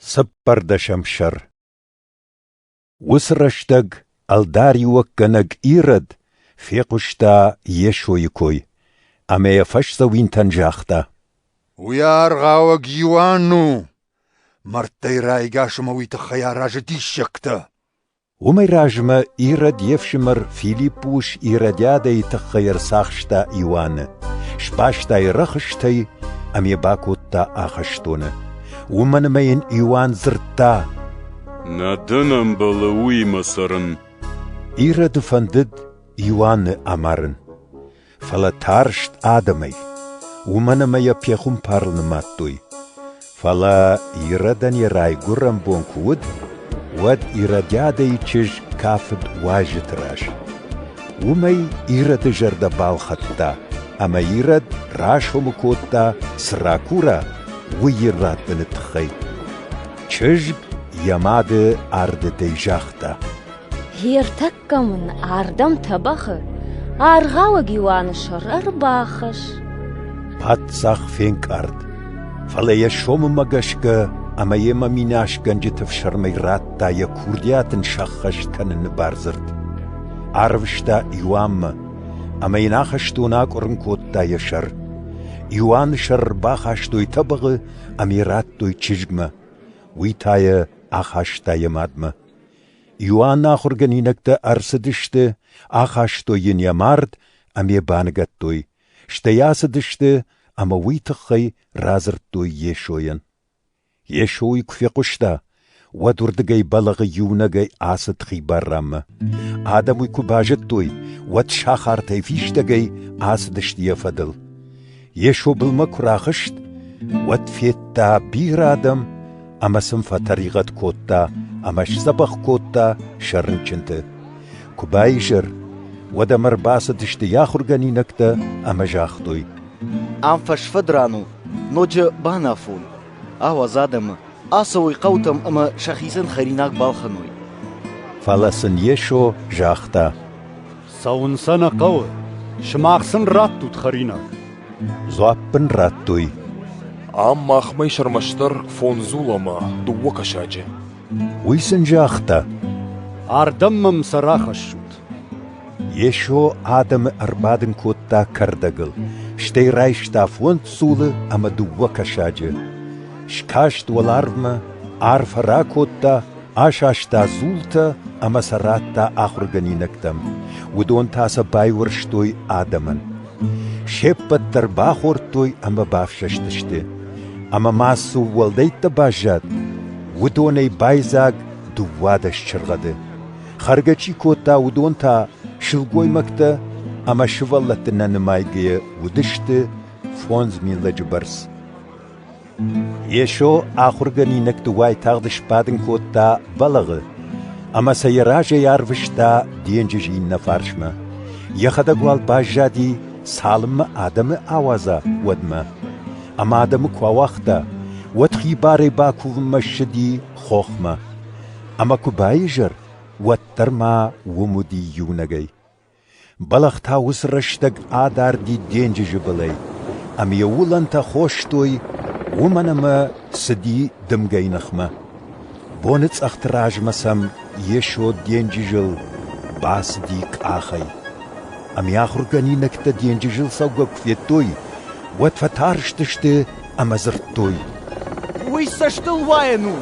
Цыппӕрдӕсӕм сӕр Уыцы рӕстӕг ӕлдариуӕггӕнӕг Ирод фехъуыста Йесойы кой, ӕмӕ йӕ фӕсдзӕуинтӕн загъта: «Уый аргъауӕг Иоанн у! Мӕрдтӕй райгас ӕмӕ уый тыххӕй аразы диссӕгтӕ!» Уымӕй размӕ Ирод йе фсымӕр Филиппы ус Иродиадӕйы тыххӕй ӕрцахста Иоанны, сбаста йӕ рӕхыстӕй ӕмӕ йӕ бакодта ахӕстоны. Уымӕн ӕмӕ йын Иоанн дзырдта: «Нӕ дын ӕмбӕлы уыимӕ цӕрын». Ироды фӕндыд Иоанны амарын. фӕлӕ тарст адӕмӕй, уымӕн ӕмӕ йӕ пехуымпарыл нымадтой. Фӕлӕ Иродӕн йӕ райгуырӕн бон куы уыд, уӕд Иродиадӕйы чызг кафыд уазджыты раз. Уымӕй Ироды зӕрдӕ балхӕдта, ӕмӕ Ирод расомы кодта, цы ракура, уый иррӕттыны тыххӕй. Чызг йӕ мады ардыдӕй загъта: «Гъе ӕртӕ Кӕм ын ардӕм тӕбӕгъы, аргъауӕг Иоанны сӕр ӕрбахӕсс. Паддзах фенкъард, фӕлӕ йӕ сомымӕ гӕсгӕ ӕмӕ йемӕ минасгӕнджыты фсӕрмӕй радта йӕ курдиат ын сӕххӕст кӕныны бардзырд. Арвыста Иоаннмӕ, ӕмӕ йын ахӕстон акъуырын кодта йӕ сӕр. Иоанны сӕр бахастой тӕбӕгъы ӕмӕ йӕ радтой чызгмӕ. Уый та йӕ ахаста йӕ мадмӕ. Иоанны ахуыргӕнинӕгтӕ ӕрцыдысты, ахастой йын йӕ мард ӕмӕ баныгӕдтой, стӕй ацыдысты ӕмӕ уый тыххӕй радзырдтой Йесойӕн. Йесо уый куы фехъуыста, уӕд уырдыгӕй бӕлӕгъы иунӕгӕй ацыд хибар ранмӕ. Адӕм уый куы базыдтой, уӕд сахартӕй фистӕгӕй ацыдысты йӕ фӕдыл. Йесо былмӕ куы рахызт, уӕд федта бирӕ адӕм ӕмӕ сын фӕтӕригъӕд кодта ӕмӕ сдзӕбӕх кодта сӕ рынчынты. Куы баизӕр, уӕд ӕм ӕрбацыдысты йӕ ахуыргӕнинӕгтӕ ӕмӕ загътой: «Ам фӕсфӕдран у, ноджы банафон. ауадз адӕмы, ацӕуой хъӕутӕм ӕмӕ сӕхицӕн хӕринаг балхӕной». Фӕлӕ сын Йесо загъта: Цӕуын сӕ нӕ хъӕуы, сымах сын раттут хӕринаг. Дзуапп ын радтой. Ам махмӕ сӕрмӕстдӕр фондзул ӕмӕ дыууӕ кӕсаджы. Уый сын загъта. Ардӕм мӕм сӕ рахӕссут. Йесо адӕмы ӕрбадын кодта кӕрдӕгыл, стӕй райста фондз дзулы ӕмӕ дыууӕ кӕсаджы. Скаст уӕларвмӕ, арфӕ ракодта асаста дзултӕ ӕмӕ сӕ радта ахуыргӕнинӕгтӕм. Уыдон та сӕ байуӕрстой адӕмӕн. Се ппӕт дӕр бахордтой ӕмӕ бафсӕстысты. Ӕмӕ ма цы уӕлдӕйттӕ баззад, уыдонӕй байдзаг дыууадӕс чыргъӕды. Хӕргӕ чи кодта, уыдон та сылгоймӕгтӕ ӕмӕ сывӕллӕтты нӕ нымайгӕйӕ уыдысты фондз мин лӕджы бӕрц. Йесо ахуыргӕнинӕгты уайтагъд сбадын кодта бӕлӕгъы ӕмӕ сӕ йӕ разӕй арвыста денджыз иннӕ фарсмӕ. Йӕхӕдӕг уал баззади, цалынмӕ адӕмы ауадза, уӕдмӕ. Ӕмӕ адӕмы куы ауагъта, уӕд хибарӕй бакувынмӕ ссыди хохмӕ. Ӕмӕ куы баизӕр, уӕддӕр ма уым уыди иунӕгӕй. Бӕлӕх та уыцы рӕстӕг адарди денджызы былӕй, ӕмӕ йӕ уылӕнтӕ хостой, уымӕн ӕмӕ цыди дымгӕйы ныхмӕ. Боныцъӕхты размӕ сӕм Йесо денджызыл бацыди къахӕй. Ӕмӕ ахуыргӕнинӕгтӕ денджызыл цӕугӕ куы федтой, уӕд фӕтарстысты ӕмӕ дзырдтой: «Уый цӕстыл уайӕн у!»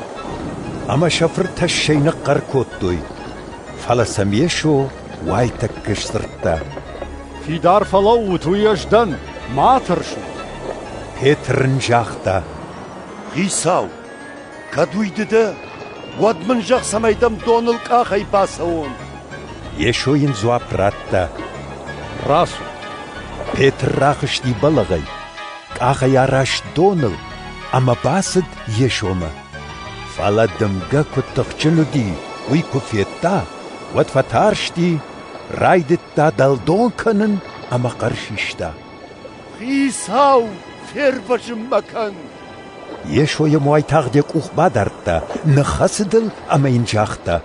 Ӕмӕ сӕ фыртӕссӕй ныхъхъӕр кодтой. Фӕлӕ сӕм Йесо Уайтӕккӕ сдзырдта. Фидар фӕлӕуут, уый ӕз дӕн, ма тӕрсут. Петр ын загъта. Хицау, кӕд уый ды дӕ, уӕд мын зӕгъ, цӕмӕй дӕм доныл къахӕй бацӕуон. Йесо йын дзуапп радта. Рацу. Петр рахызти бӕлӕгъӕй, къахӕй араст доныл ӕмӕ бацыд Йесомӕ. Фӕлӕ дымгӕ куыд тыхджын уыди, уый куы федта, уӕд фӕтарсти, райдыдта дӕлдон кӕнын ӕмӕ хъӕр систа: «Хицау, фервӕзын мӕ кӕн!» Йесо йӕм уайтагъд йӕ къух бадардта, ныххӕцыд ыл ӕмӕ йын загъта: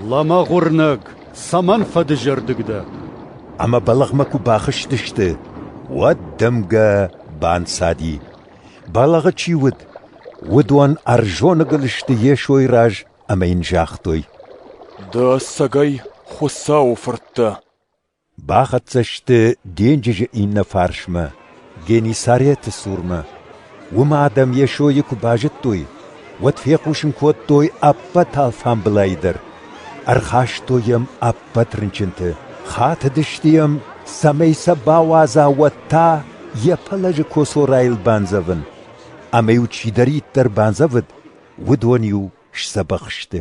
«Лӕмӕгъ уырнӕг, цӕмӕн фӕдызӕрдыг дӕ?» Ӕмӕ бӕлӕгъмӕ куы бахызтысты, уӕд дымгӕ банцади. Бӕлӕгъы чи уыд, уыдон ӕрзоныгыл сты Йесойы раз ӕмӕ йын загътой: Ды ӕцӕгӕй Хуыцауы фырт дӕ? Бахӕццӕ сты денджызы иннӕ фарсмӕ, Геннисареты цурмӕ. Уым адӕм Йесойы куы базыдтой, уӕд фехъусын кодтой ӕппӕт алфамбылайы дӕр. Ӕрхастой йӕм ӕппӕт рынчынты, хатыдысты йӕм, цӕмӕй сӕ бауадза уӕд та йӕ пӕлӕзы косорайыл бандзӕвын. Ӕмӕ-иу чидӕриддӕр бандзӕвыд, уыдон-иу сдзӕбӕх сты.